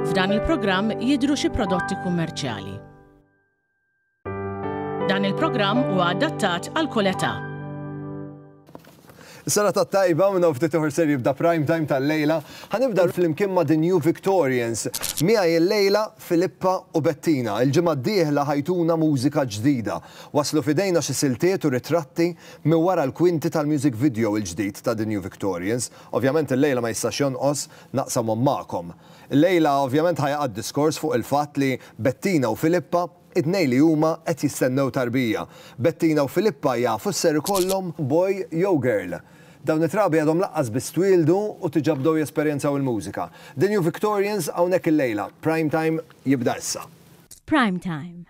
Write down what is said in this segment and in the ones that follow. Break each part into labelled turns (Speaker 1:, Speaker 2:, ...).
Speaker 1: F'dan il-programm jidhru xi prodotti kummerċjali. Dan il-programm huwa adattat għal kull età.
Speaker 2: Sena ta' tajba minn ftit uħor ser jibda prime time tal-lejla, ħanibda fl-imkien ma' The New Victorians. Mija il-lejla Filippa u Bettina, il-ġimgħa d-dieħla ħajtuna mużika ġdida. Waslu f'idejna xi siltiet u ritratti minn wara l-kwinti tal-music video il-ġdid ta' The New Victorians. Ovvjament illejla ma jistax jonqos naqsamhom magħkom. Illejla ovvjament ħa jaqa' d-diskors fuq il-fatt li Bettina u Filippa, it-tnejn li huma qed jistennew tarbija. Bettina u Filippa jafu x'ser ikollhom? Boy jew girl? Dawn it-trabi għadhom laqqas biss twieldu u tiġa bdew jesperjenzaw il-mużika. The New Victorians hawnhekk illejla. Prime Time jibda issa. Prime
Speaker 3: Time.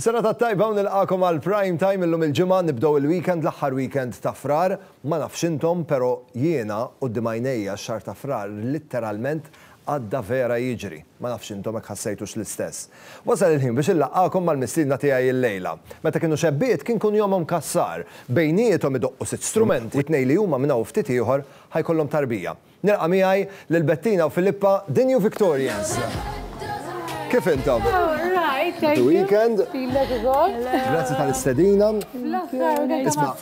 Speaker 2: Is-sena tat-tajba u nilqakom għal Prime Time illum il-ġimgħa nibdew il-weekend l-aħħar weekend ta' Frar. Ma nafx intom, però jiena quddiem għajnejja x-xahar ta' Frar litteralment Għadda vera jiġri. Ma nafx intom hekk ħassejtux l-istess. Wasal il-ħin biex inlaqqagħkom mal-mistiedna tiegħi illejla. Meta kienu xebbiet kien kun jomhom kassar. Bejniethom idoqqu sitt strumenti, tnej li huma minn hawn ftit ieħor ħa jkollhom tarbija. Nilqa' miegħi lil Bettina u Filippa, The New Victorians. Kif intom? Happy
Speaker 4: weekend. Grazzi tal-istedina. Isma'.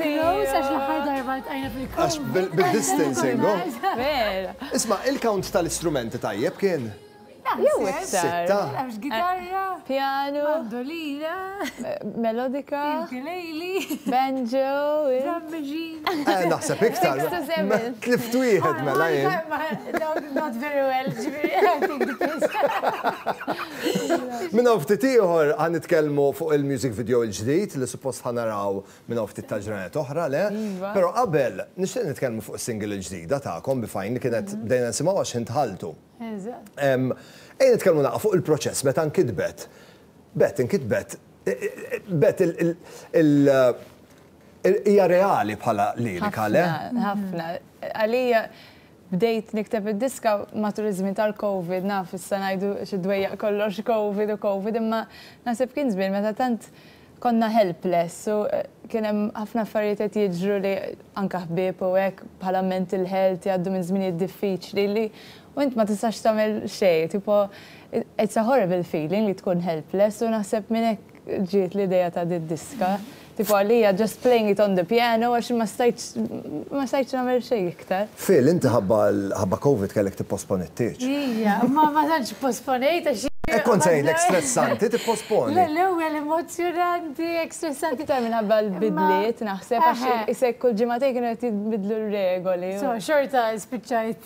Speaker 2: Għax bil-distancing, oh. Vera. Isma', il-count tal-istrumenti tajjeb kien? Jew iktar. Sitta? Nafx gitarra.
Speaker 4: Pjanu.
Speaker 5: Mandolina.
Speaker 4: Melodika.
Speaker 5: Ukulele.
Speaker 4: Banjo.
Speaker 5: Drum
Speaker 4: machine. Eh, naħseb iktar.
Speaker 2: Tlift wieħed mela jien. Not
Speaker 4: very well, ġifieri, I think the case. Minn hawn ftit ieħor
Speaker 2: ħa nitkellmu fuq il-music video l-ġdid li suppost ħa naraw Minn hawn ftit tal-ġranet oħra, le? Iva. Però qabel, nixtieq nitkellmu fuq is-single il-ġdida tagħkom bi Fine li kienet bdejna nisimgħu għax ħin dħaltu. Eżatt. Ejja nitkellmu naqra fuq il-proċess meta nkitbet. Bett inkitbet, Bett il, hija reali bħala lirika, le? Ħafna, ħafna.
Speaker 5: Għalija Bdejt nikteb id-diska matul iż-żmien tal-Covid, naf issa ngħidu xi dwejjaq kollox Covid u Covid imma naħseb kien żmien meta tant konna helpless u kien hemm ħafna affarijiet qed jiġru li anke ħbieb u hekk bħala mental health jgħaddu minn żminijiet diffiċli li u int ma tistax tagħmel xejn, tipo it's a horrible feeling li tkun helpless u naħseb minn hekk ġiet l-idea ta' din diska. Tipo għalija just playing it on the piano għax ma stajtx ma stajtx nagħmel xejn iktar. Phil, inti ħabba
Speaker 2: ħabba Covid kellek tipposponi t-tieġ. Ija, imma ma
Speaker 4: tantx ipposponejt għax jien. Hekk kont se ngħidlek
Speaker 2: stressanti tipposponi. Le, l-ewwel
Speaker 4: emozzjonanti, hekk stressanti. Iktar minħabba
Speaker 5: l-bidliet naħseb għax isek kull ġimagħtejn kienu qed jinbidlu r-regoli. So, xorta
Speaker 4: spiċċajt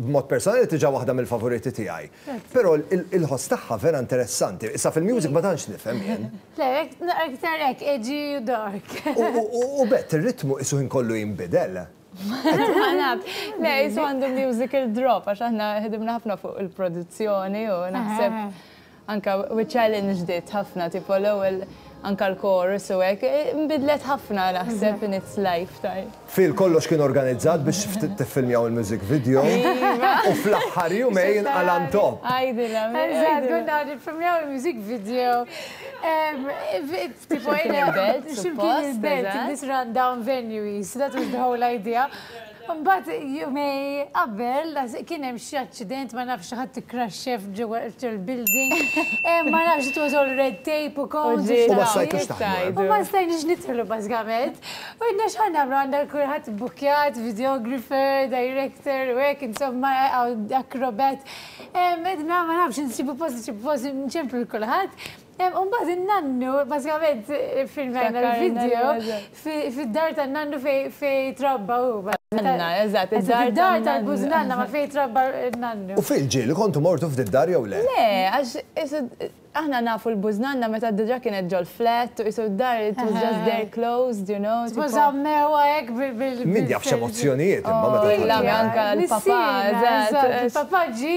Speaker 2: B'mod personali diġà waħda mill-favoriti tiegħi. Però il-ħoss tagħha vera interessanti. Issa fil-music ma tantx nifhem jien. Le,
Speaker 4: iktar hekk edgy u dark. U b'hekk
Speaker 2: ir-ritmu qisu ħin kollu jinbidel. Ma nafx.
Speaker 5: Le, qisu għandu musical drop għax aħna ħdimna ħafna fuq il-produzzjoni u naħseb Anke with challenge ġdid ħafna tipo l-ewwel anke l-chorus u hekk inbidlet ħafna naħseb in its life time. Phil kollox kien
Speaker 2: organizzat biex tiffilmjaw il-music video u fl-aħħar jumejn qal' għan top. Għidilha. Eżatt
Speaker 5: kont ngħid
Speaker 4: iffilmjaw il-music video tipo x'imkien il-belt suppost x'imkien il-belt in this run down venue qis that was the whole idea. Mbagħad jumej qabel kien hemm xi aċċident ma nafx xi ħadd ikkraxxef ġewwa il-building. Ma nafx it was all red tape u cones. U ma stajtux
Speaker 2: taħdmu. U ma stajniex
Speaker 4: nidħlu bażikament. U għidna x'ħa nagħmlu għandna kulħadd bbukkjat, videographer, director u hekk insomma acrobat. Għidna ma nafx insibu post, insibu post, nċemplu lil kulħadd. U mbagħad in-nannu, bażikament filmajna l-video, fid-dar tan-nannu fejn trabba hu. Nanna, eżatt,
Speaker 5: id-dar tal-bużnanna
Speaker 4: ma fejn trabba n-nannu. U fil-ġieli kontu
Speaker 2: mortu f'din id-dar jew le? Le, għax qisu
Speaker 5: aħna nafu l-bużnanna meta diġà kienet ġol-flat u qisu d-dar it was just there closed, you know. Suppost żammewha hekk
Speaker 4: bil-. Min jaf x'emozzjonijiet
Speaker 2: imma meta. Anke l-papà,
Speaker 5: eżatt. Il-papà ġie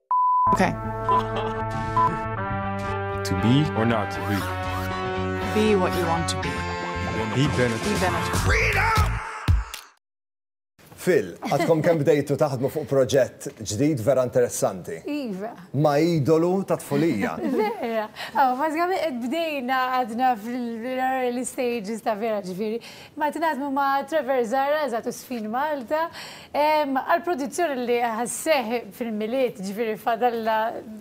Speaker 6: Okay. to be or not
Speaker 7: to be. Be what you want to be.
Speaker 6: Be Bennett.
Speaker 7: Be Bennett. Freedom!
Speaker 2: Phil, għadkom kem bdejtu taħdmu fuq proġett ġdid vera interessanti. Iva. Ma
Speaker 4: idolu
Speaker 2: ta' tfulija. Vera. Oh,
Speaker 4: Mażgħami qed bdejna għadna fil-early stages ta' vera ġifieri. Ma tnaħdmu ma' Trevor Zara, eżatt Sfin Malta, Għall-produzzjoni li ħa sseħħ fil-Milied, ġifieri fadalna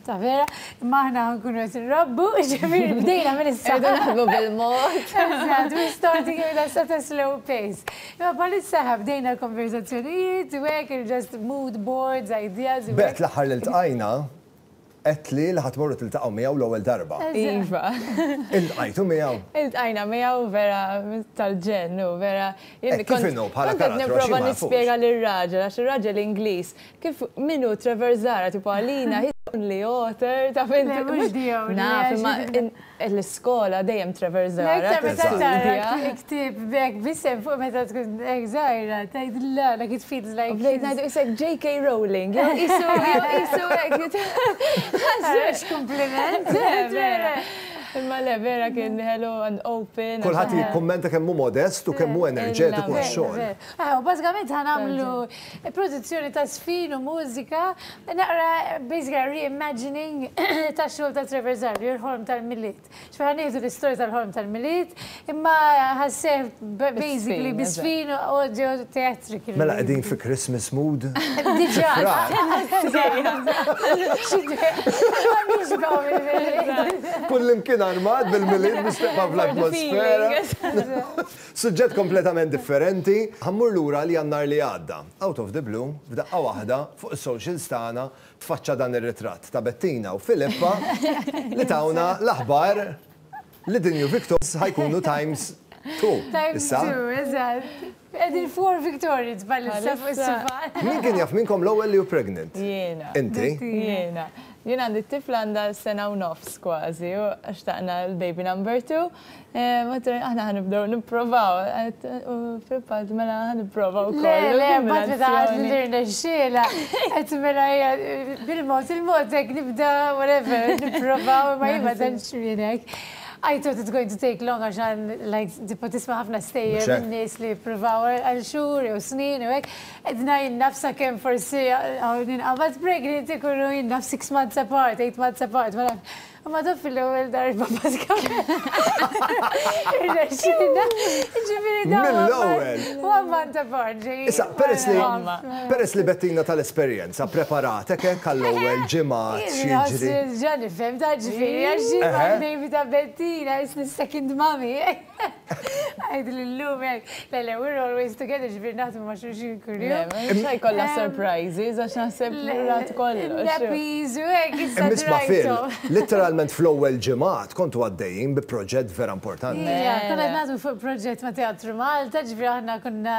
Speaker 4: ta' vera, imma aħna ħa nkunu qed inrabbu, ġifieri bdejna minn issa. Irridu naħdmu bil-mod.
Speaker 5: Eżatt, we're
Speaker 4: starting with a sort of slow pace. Imma bħalissa ħa bdejna l-konverżazzjonijiet u hekk, just mood boards, ideas. B'hekk l-aħħar li ltqajna,
Speaker 2: Għedt li li ħa tmorru tiltaqgħu miegħu l-ewwel darba. Iva.
Speaker 5: Iltqajtu
Speaker 2: miegħu? Iltqajna miegħu
Speaker 5: vera tal-ġenn hu vera. Hekk kif inhu bħala karattru
Speaker 2: għax jien ma nafux. Kont qed nipprova nispjega
Speaker 5: lir-raġel għax ir-raġel Ingliż kif min hu Trevor Zahra tipu għalina he's only author taf int. Le mhux di hawn. Naf
Speaker 4: imma
Speaker 5: L-iskola dejjem traverżarak. L-iktar meta tara
Speaker 4: ktieb b'hekk b'isem fuq meta tkun hekk żgħira, tgħidilha like it feels like. Bdejt ngħidu qisek JK
Speaker 5: Rowling, jew qisu qisu hekk. Ħażux
Speaker 4: kumpliment.
Speaker 5: Imma le vera kien ħelu and open. Kulħadd jikkummenta
Speaker 2: kemm hu modest u kemm hu enerġetiku għax-xogħol. Bażikament ħa
Speaker 4: nagħmlu Produzzjoni ta' żfin u mużika, naqra basically re-imagining tax-xogħol ta' Trevor Zarbi, Il-Ħolm tal-Milied. Ġifieri ħa nieħdu l-istorja tal-Ħolm tal-Milied, imma ħa sseħħ basically bi żfin u audio theatrical. Mela qegħdin fi
Speaker 2: Christmas mood? Diġà. Kullimkien armat bil-Milied biex tibqa' fl-atmosfera. Suġġett kompletament differenti, ħa mmur lura għal Jannar li għadda. Out of the blue, f'daqqa waħda, fuq is-socials tagħna tfaċċa dan ir-ritratt ta' Bettina u Filippa li tawna l-aħbar li the new Victorians ħa jkunu times two issa. Times two,
Speaker 4: eżatt. Qegħdin four Victorians bħalissa fuq is-sufan. Min kien jaf minnkom
Speaker 2: l-ewwel li hu pregnant? Jiena. Inti?
Speaker 5: Jiena. Jien għandi t-tifla għandha sena u nofs kważi u xtaqna l-baby number two. Mater, aħna ħanibdew nipprovaw. Fil-fatt, mela ħanipprovaw. Le, le, batri ta'
Speaker 4: għazmirna xxela. Għet mela bil-mot, il-mot ek nibda, whatever, nipprovaw, ma jibba dan xminek. I thought it's going to take long għaxan, like, tipo tisma ħafna stejjer minn nis li provaw għal xur, jew snin, jew ek. Edna jinnafsa kem forsi għawdin għabat pregnant ikunu jinnaf 6 months apart, 8 months apart, ma nafx. Imma daf fil-ewwel darba bażikament. Irnexxina. Ġifieri dawn. Mill-ewwel.
Speaker 2: Wamman ta'
Speaker 4: Borġi. Issa, peress li
Speaker 2: peress li Bettina tal-esperjenza preparatek hekk għall-ewwel ġimgħa x'jiġri. Ġa nifhem, ta'
Speaker 4: ġifieri għax xi baby ta' Bettina, isni second mommy. Għidli l-lum hekk. Le, le, we're always together, ġbir naħdmu ma' xulxin kurju. Xaj kolla eh,
Speaker 5: surprises, għax naħseb l-rat kollha. Nappies u hekk
Speaker 4: issa. Nisma' fil,
Speaker 2: literalment fl-ewwel ġimgħat kontu għaddejjin bi proġett vera importanti. Konna naħdmu fuq
Speaker 4: proġett ma' Teatru Malta, ġbir aħna konna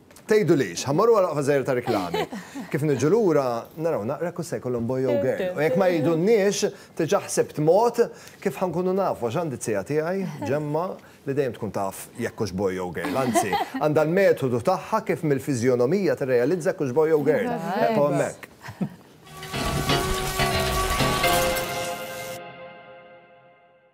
Speaker 2: Tgħidulix, ħa mmorru għal waqfa żgħira ta' riklami. Kif niġu lura, naraw naqra kux se jkollhom boy jew girl. U jekk ma jgħidulniex, diġà ħsibt mod kif ħa nkunu nafu għax għandi t-tija tiegħi, Ġemma, li dejjem tkun taf jekk hux boy jew girl. Anzi, għandha l-metodu tagħha kif mill-fiżjonomija tirrealizza jekk hux boy jew girl. Eqgħu hemmhekk.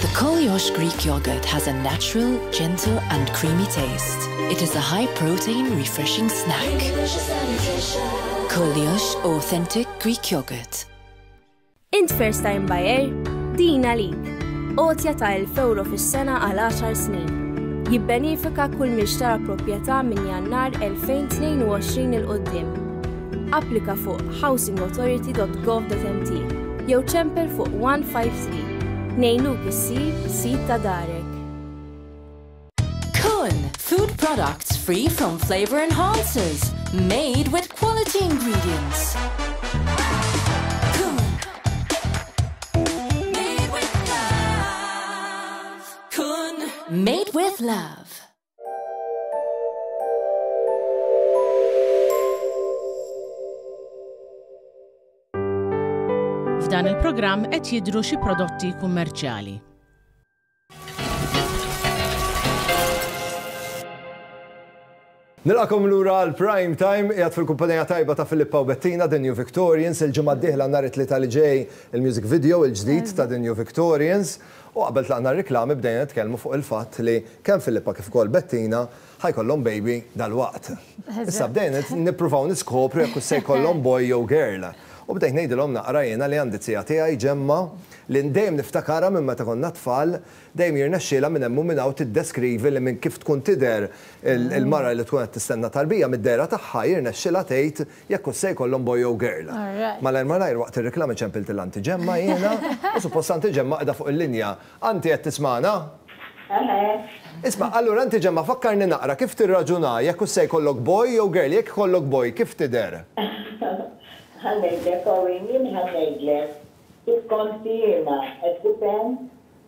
Speaker 8: The Koliosh Greek yogurt has a natural, gentle and creamy taste. It is a high protein, refreshing snack. Koliosh authentic Greek yogurt. Int
Speaker 9: first time buyer? Din għalik. Otja ta' 1000 euro fis-sena għal 10 snin. Jibbenifika kull mixtara proprjetà minn jannar 2022 il-qoddim Applika fuq housingauthority.gov.mt jew ċempel fuq 153. Nejnuk issir sid ta' darek.
Speaker 8: Kun, food products free from flavor enhancers, made with quality ingredients. Made with love.
Speaker 1: F'dan il-programm qed jidhru xi prodotti kummerċjali.
Speaker 2: Nilqakom lura għal prime time qiegħed fil-kumpanija tajba ta' Filippa u Bettina The New Victorians il-ġimgħa d-dieħla nhar it-tlieta li ġej il-music video il-ġdid ta' The New Victorians. U qabel tlaqna r-riklami bdejna nitkellmu fuq il-fatt li kemm Filippa kif ukoll Bettina ħa jkollhom baby dalwaqt. Issa bdejna nippruvaw niskopru jekk hux se jkollhom boy jew girl. U bdejt ngħidilhom naqra jiena li għandi t-tija tiegħi Ġemma li dejjem niftakarha minn meta konna tfal, dejjem jirnexxielha minn hemm u minn hawn tiddeskrivi li minn kif tkun tidher il-mara li tkun qed tistenna tarbija mid-dehra tagħha jirnexxilha tgħid Jekk hux se jkollhom boy jew girl. Malajr malajr waqt ir-riklami ċempilt il antiġemma jiena u suppost antiġemma qiegħda fuq il-linja. Anti qed tismagħna? Isma', allura antiġemma fakkarni naqra kif tirraġuna jekk hux se jkollok boy jew girl, jekk ikollok boy kif tidher? Ħa ngħidlek
Speaker 10: Owen, jien ħa ngħidlek kif kont jiena, qed tifhem?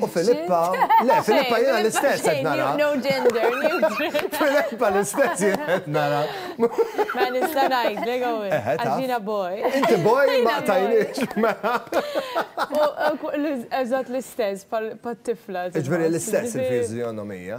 Speaker 2: U Filippa, le, Filippa jena l-istess qed nara. No gender,
Speaker 5: Filippa
Speaker 2: l-istess jena qed nara. Ma
Speaker 5: nista' ngħid, le għawin. Għaxina boy. Inti boy ma
Speaker 2: tajniex.
Speaker 5: Eżatt l-istess pat-tifla. Iġveri l-istess
Speaker 2: il-fizjonomija.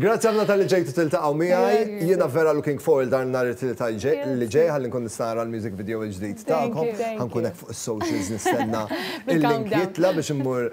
Speaker 4: Grazzi ħafna
Speaker 2: talli ġejtu tiltaqgħu miegħi. Jiena vera looking forward għal nhar it-Tlieta li ġej ħalli nkun nista' nara l-music video l-ġdid tagħkom. Ħa nkun hekk fuq is-socials nistenna l-link jitla' biex immur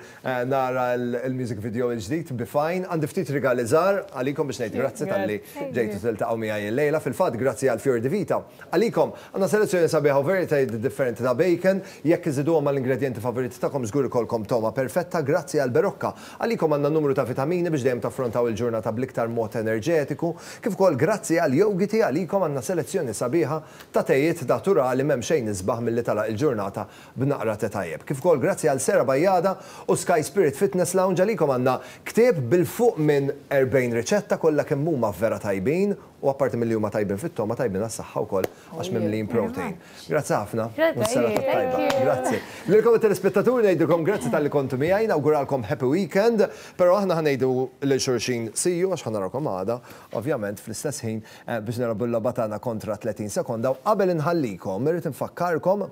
Speaker 2: nara l-music video l-ġdid bi Fine. Għandi ftit rigali żgħar għalikom biex ngħid grazzi talli ġejtu tiltaqgħu miegħi illejla. Fil-fatt grazzi għal Fior di Vita. Għalikom għandna selezzjoni sabiħa u varjetajiet differenti ta' bacon. Jekk iżiduhom mal-ingredjenti favoriti tagħkom żgur ikollkom togħma perfetta. Grazzi għall-Berocca. Għalikom għandna numru ta' vitamini biex dejjem taffrontaw il-ġurnata bl-iktar mod enerġetiku, kif ukoll grazzi għal Yogiti għalikom għandna selezzjoni sabiħa ta' tejiet daturali m'hemm xejn isbaħ milli tagħlaq il-ġurnata b'naqra te tajjeb. Kif ukoll grazzi għal Sera Bajada u Sky Spirit Fitness Lounge għalikom għandna ktieb bil fuq minn 40 riċetta kollha kemm huma vera tajbin u apparti milli huma tajbin fit-togħma tajbin għas-saħħa wkoll għax mimlijin protein. Grazzi ħafna. U s-sena ta' tajba. Grazzi. Lilkom it-telespettaturi ngħidilkom grazzi tal-li kontu miegħi, nawguralkom happy weekend, però aħna ħa ngħidu lil xulxin see you għax ħa narakom għada, ovvjament fl-istess ħin biex nilgħabu l-logħba tagħna kontra 30 sekonda u qabel inħallikom irrid infakkarkom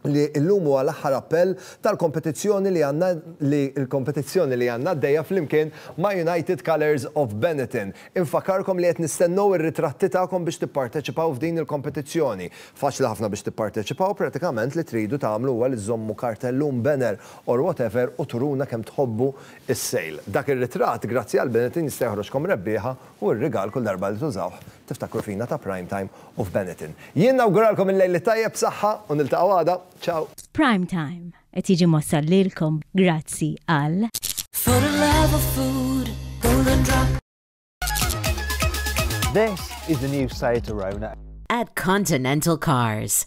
Speaker 2: li llum huwa l-aħħar appell tal-kompetizzjoni li għandna li l-kompetizzjoni li għandna għaddejja flimkien ma' United Colours of Benetton. Infakarkom li qed nistennew ir-ritratti tagħkom biex tipparteċipaw f'din il-kompetizzjoni. Faċli ħafna biex tipparteċipaw, pratikament li tridu tagħmlu huwa li żżommu kartellun, banner or whatever u turuna kemm tħobbu s-sale. Dak ir-ritratt, grazzi għal Benetton jista' joħroġkom rebbieħa u r-rigal kull darba li tużawh Tiftakru fina ta' Prime Time u f'Benetton. Jien nawguralkom il-lejl it-tajjeb b'saħħa u niltaqgħu għada. Ciao! Prime Time
Speaker 3: qed jiġi mwassal lilkom grazzi għal. For the love
Speaker 11: of food, Golden Drop.
Speaker 12: This is the new Seat Arona. At Continental
Speaker 13: Cars.